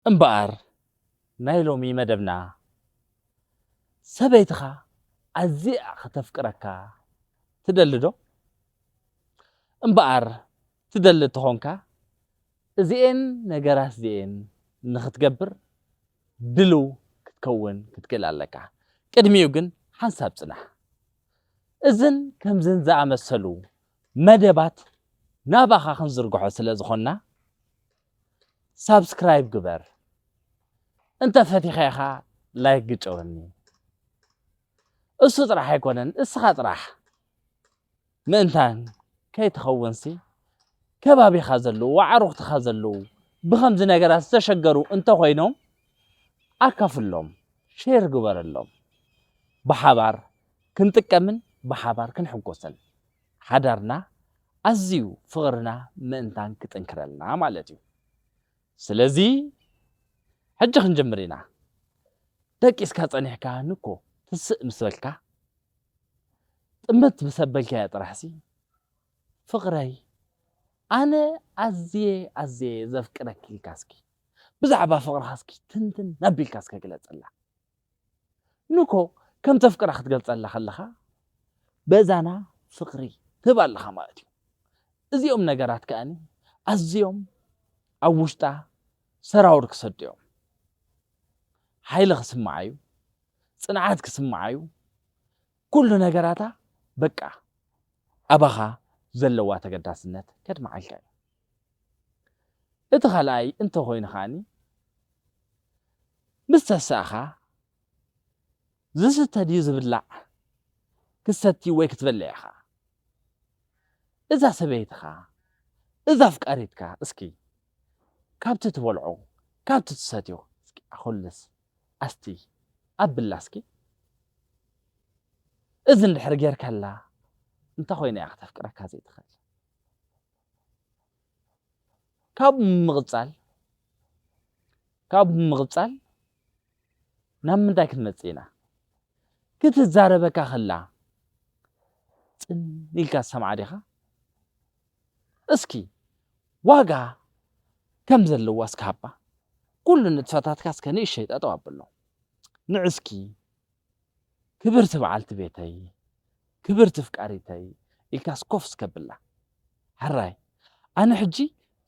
እምበኣር ናይ ሎሚ መደብና ሰበይትኻ ኣዚያ ከተፍቅረካ ትደሊ ዶ? እምበኣር ትደሊ ተኾንካ እዚኤን ነገራት'ዚኤን ንኽትገብር ድልው ክትከውን ክትክእል ኣለካ። ቅድሚኡ ግን ሓንሳብ ጽናሕ። እዝን ከምዝን ዝኣመሰሉ መደባት ናባኻ ክንዝርግሖ ስለ ዝኾንና፣ ሳብስክራይብ ግበር እንተ ፈቲኻ ኢኻ ላይክ ግጨወኒ እሱ ጥራሕ ኣይኮነን እስኻ ጥራሕ ምእንታን ከይትኸውንሲ ከባቢኻ ዘለዉ ኣዕሩኽትኻ ዘለዉ ብኸምዚ ነገራት ዝተሸገሩ እንተኾይኖም ኣካፍሎም ሼር ግበረሎም ብሓባር ክንጥቀምን ብሓባር ክንሕጎስን ሓዳርና ኣዝዩ ፍቕርና ምእንታን ክጥንክረልና ማለት እዩ ስለዚ ሕጂ ክንጅምር ኢና ደቂስካ ጸኒሕካ ንኮ ትስእ ምስ በልካ ጥምት ምስ ኣበልካዮ ጥራሕሲ ፍቕረይ ኣነ ኣዝየ ኣዝየ ዘፍቅረኪ ኢልካ እስኪ ብዛዕባ ፍቕርኻ እስኪ ትንትን ኣቢልካ እስከ ግለጸላ። ንኮ ከም ተፍቅራ ክትገልጸላ ከለኻ በዛና ፍቅሪ ትህባ ኣለኻ ማለት እዩ። እዚኦም ነገራት ከኣኒ ኣዝዮም ኣብ ውሽጣ ሰራውር ክሰዱ እዮም። ሓይሊ ክስምዓ እዩ፣ ጽንዓት ክስምዓ እዩ፣ ኩሉ ነገራታ በቃ ኣባኻ ዘለዋ ተገዳስነት ከድምዓልካ እዩ። እቲ ካልኣይ እንተ ኾይኑ ከኣ ምስ ተሳእኻ ዝስተ ድዩ ዝብላዕ ክትሰቲ ወይ ክትበልዕ ኢኻ። እዛ ሰበይትኻ እዛ ኣፍቃሪትካ እስኪ ካብቲ ትበልዖ ካብቲ ትሰትዮ እስኪ ኣኹልስ ኣስትይ ኣብላ እስኪ። እዚ እንድሕር ጌርካላ እንተ ኾይኑ እያ ክተፍቅረካ ዘይትኽእል። ካብኡ ብምቕጻል ካብኡ ብምቕጻል ናብ ምንታይ ክንመጽእ ኢና? ክትዛረበካ ከላ ጽን ኢልካ ትሰምዓ ዲኻ? እስኪ ዋጋ ከም ዘለዋ እስኪ ሃባ። ኩሉ ንጥፈታትካ እስከ ንእሸይ ጠጠው ኣብሎ። ንዕስኪ ክብርቲ በዓልቲ ቤተይ፣ ክብርቲ ፍቃሪተይ ኢልካስ ኮፍ እስከብላ። ሕራይ ኣነ ሕጂ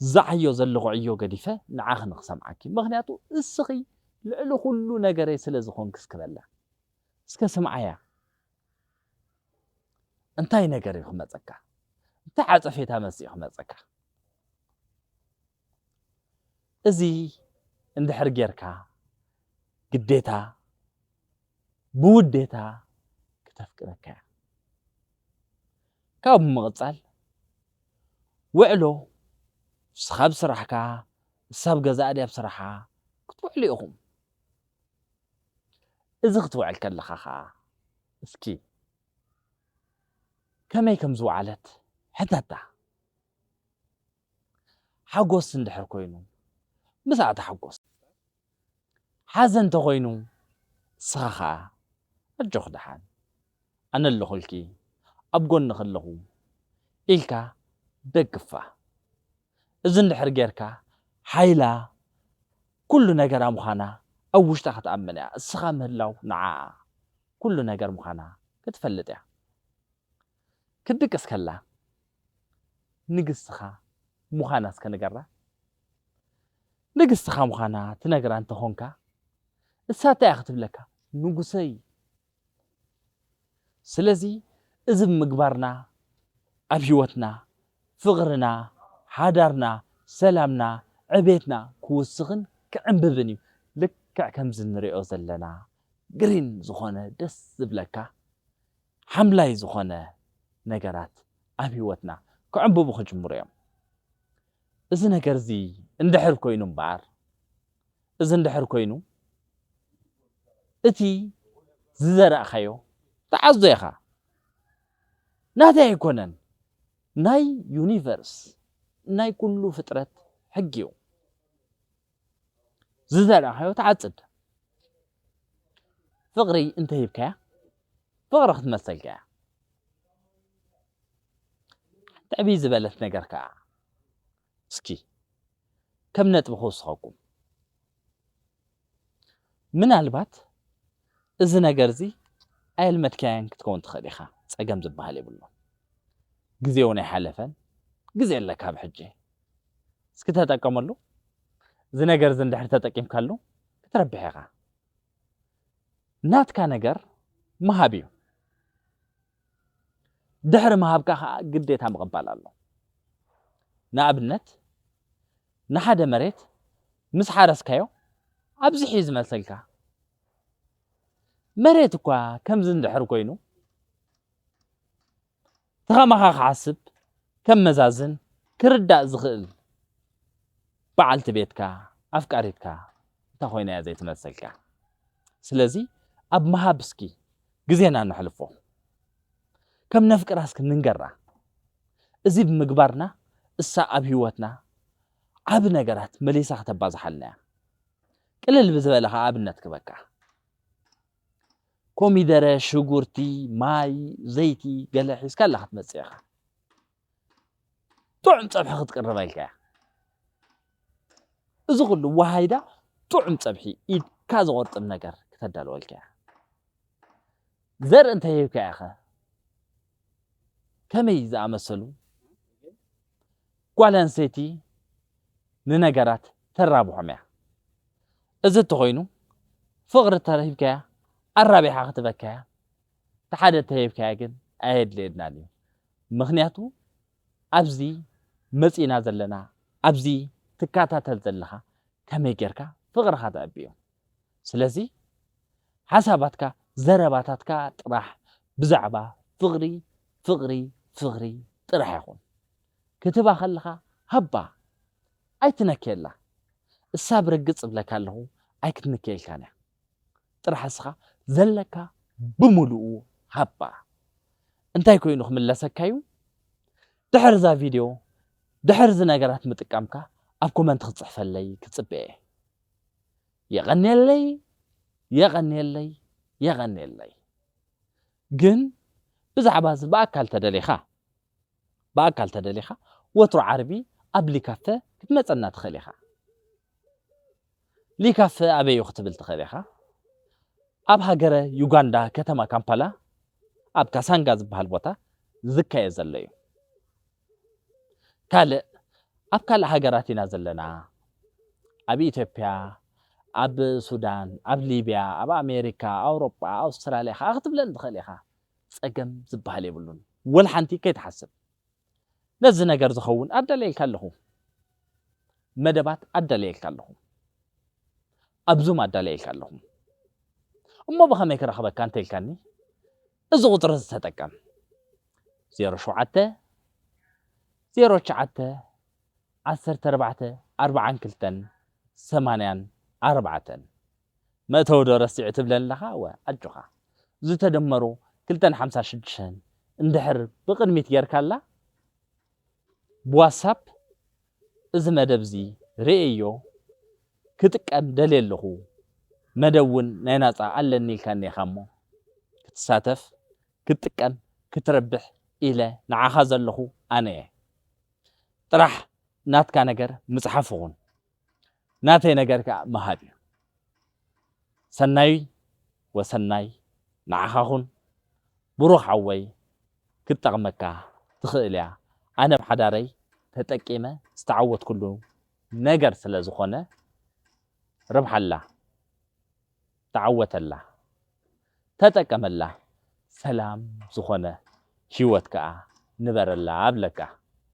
ዝዓዮ ዘለኹ ዕዮ ገዲፈ ንዓኺ ንኽሰምዓኪ ምኽንያቱ እስኺ ልዕሊ ኩሉ ነገረይ ስለ ዝኾንኪ እስክበላ። እስከ ስምዓያ እንታይ ነገር እዩ ክመጸካ እንታይ ዓጸፌታ መልሲ እዩ ክመጸካ። እዚ እንድሕር ጌርካ ግዴታ ብውዴታ ክተፍቅረካ እያ። ካብኡ ብምቕጻል ውዕሎ ንስኻ ኣብ ስራሕካ ንሳ ኣብ ገዛኣ ድያ ኣብ ስራሓ ክትውዕሉ ኢኹም። እዚ ክትውዕል ከለኻ ኸኣ እስኪ ከመይ ከም ዝወዓለት ሕተታ። ሓጎስ እንድሕር ኮይኑ ንስኻ ተሓጎስ ሓዘን ተኾይኑ ንስኻ ኸኣ ኣጆኺ ደሓን ኣነ ኣለኹልኪ ኣብ ጎንኺ ኣለኹ ኢልካ ደግፋ እዚ እንድሕር ጌርካ ሓይላ ኩሉ ነገራ ምዃና ኣብ ውሽጣ ክትኣምን እያ እስኻ ምህላው ንዓኣ ኩሉ ነገር ምዃና ክትፈልጥ እያ። ክትድቅስ ከላ ንግስትኻ ምዃና እስከ ንገራ። ንግስትኻ ምዃና ትነግራ እንተ ኾንካ፣ እሳ እንታይ እያ ክትብለካ? ንጉሰይ! ስለዚ እዚ ብምግባርና ኣብ ህይወትና ፍቕርና፣ ሓዳርና፣ ሰላምና፣ ዕቤትና ክውስኽን ክዕምብብን እዩ። ልክዕ ከምዚ እንርእዮ ዘለና ግሪን ዝኾነ ደስ ዝብለካ ሓምላይ ዝኾነ ነገራት ኣብ ህይወትና ክዕምብቡ ክጅምሩ እዮም። እዚ ነገር እዚ እንድሕር ኮይኑ እምበኣር እዚ እንድሕር ኮይኑ እቲ ዝዘራእካዮ ትዓዞ ኢኻ። ናተይ ኣይኮነን ናይ ዩኒቨርስ ናይ ኩሉ ፍጥረት ሕጊ እዩ። ዝዘራእኻዮ ትዓጽድ ፍቕሪ እንተሂብካያ ፍቕሪ ክትመሰልካ እያ ትዕብይ ዝበለት ነገር ከዓ እስኪ ከም ነጥቢ ክውስኸኩም ምናልባት እዚ ነገር እዚ ኣየልመድካያን ክትከውን ትኽእል ኢኻ ፀገም ዝበሃል የብሉ ግዜውን ኣይሓለፈን ግዜ ኣለካ ብሕጂ እስኪ ተጠቀመሉ እዚ ነገር እዚ እንድሕር ተጠቂምካሉ ክትረብሕ ኢኻ ናትካ ነገር ምሃብ እዩ ድሕሪ ምሃብካ ከዓ ግዴታ ምቕባል ኣሎ ንኣብነት ንሓደ መሬት ምስ ሓረስካዮ ኣብዚሕ እዩ ዝመልሰልካ መሬት እኳ ከምዚ እንድሕር ኮይኑ ትኸማኻ ክሓስብ ከመዛዝን ክርዳእ ዝኽእል በዓልቲ ቤትካ ኣፍቃሪትካ እንታ ኮይና እያ ዘይትመስልካ ስለዚ ኣብ ምሃብ እስኪ ግዜና ነሕልፎ ከም ነፍቅራ እስኪ ንንገራ እዚ ብምግባርና እሳ ኣብ ህይወትና ዓቢ ነገራት መሊሳ ክተባዝሓልና እያ ቅልል ብዝበለ ከኣ ኣብነት ክበካ ኮሚደረ፣ ሽጉርቲ፣ ማይ፣ ዘይቲ ገለ ሒዝካ ኣላ ክትመጽእ ኢኻ። ጥዑም ጸብሒ ክትቅርብ ኣልካ እያ። እዚ ኩሉ ዋሃይዳ ጥዑም ጸብሒ ኢድካ ዝቆርጥም ነገር ክተዳልወልካ እያ። ዘርኢ እንተሂብካ ኢኸ ከመይ ዝኣመሰሉ ጓል ኣንስተይቲ ንነገራት ተራብሖም እያ። እዚ እንተኾይኑ ፍቕሪ ተሂብካያ ኣራቢሓ ክትበካ እያ፣ እቲ ሓደ እንተሂብካያ ግን ኣየድልየናን እዩ። ምኽንያቱ ኣብዚ መጺእና ዘለና ኣብዚ ትከታተል ዘለኻ ከመይ ጌርካ ፍቕርኻ ተዕቢ እዩ። ስለዚ ሓሳባትካ ዘረባታትካ ጥራሕ ብዛዕባ ፍቕሪ ፍቕሪ ፍቕሪ ጥራሕ ይኹን። ክትህባ ከለኻ ሃባ ኣይትነክየላ እሳ ብርግጽ እብለካ ኣለኹ ኣይክትንክየልካን እያ ጥራሕ እስኻ ዘለካ ብምሉኡ ሃባ። እንታይ ኮይኑ ክምለሰካ እዩ ድሕሪ እዛ ቪድዮ ድሕሪ እዚ ነገራት ምጥቃምካ ኣብ ኮመንት ክትጽሕፈለይ ክጽበ እየ። የቐኔለይ የቐኔለይ የቐኔለይ ግን ብዛዕባ እዚ ብኣካል ተደሊኻ ብኣካል ተደሊኻ ወትሩ ዓርቢ ኣብ ሊካፈ ክትመጸና ትኽእል ኢኻ ሊካፈ ኣበዩ ክትብል ትኽእል ኢኻ ኣብ ሃገረ ዩጋንዳ ከተማ ካምፓላ ኣብ ካሳንጋ ዝበሃል ቦታ ዝካየድ ዘሎ እዩ ካልእ ኣብ ካልእ ሃገራት ኢና ዘለና ኣብ ኢትዮጵያ ኣብ ሱዳን ኣብ ሊብያ ኣብ ኣሜሪካ ኣውሮጳ ኣውስትራልያ ከኣ ክትብለን ትኽእል ኢኻ ጸገም ዝበሃል የብሉን ወልሓንቲ ከይትሓስብ ነዚ ነገር ዝኸውን ኣዳልየልካ ኣለኹ መደባት ኣዳልየልካ ኣለኹ ኣብ ዙም ኣዳልየልካ ኣለኹ እሞ ብኸመይ ክረኽበካ እንተኢልካኒ እዚ ቁፅሪ እዚ ተጠቀም፣ ዜሮ ሸውዓተ፣ ዜሮ ትሽዓተ፣ ዓሰርተ ኣርባዕተ፣ ኣርብዓን ክልተን፣ ሰማንያን ኣርባዕተን። መእተዊ ዶ ረሲዑ ትብለኒ ኣለኻ? እወ ኣጆኻ ዝተደመሩ ክልተን ሓምሳ ሽዱሽተን እንድሕር ብቕድሚት ጌርካላ ብዋትሳፕ እዚ መደብ እዚ ርእየዮ ክጥቀም ደልየ ኣለኹ መደብ ውን ናይ ናጻ ኣለኒ ኢልካ እኒካ እሞ ክትሳተፍ ክትጥቀም ክትረብሕ ኢለ ንዓኻ ዘለኹ ኣነ እየ ጥራሕ ናትካ ነገር ምጽሓፍ ኹን ናተይ ነገር ከኣ ምሃብ እዩ ሰናይ ወሰናይ ንዓኻ ኹን ብሩኽ ሓወይ ክትጠቅመካ ትኽእል እያ ኣነ ኣብ ሓዳረይ ተጠቂመ ዝተዓወትኩሉ ነገር ስለ ዝኾነ ርብሓላ ተዓወተላ ተጠቀመላ ሰላም ዝኾነ ሂወት ከኣ ንበረላ እብለካ።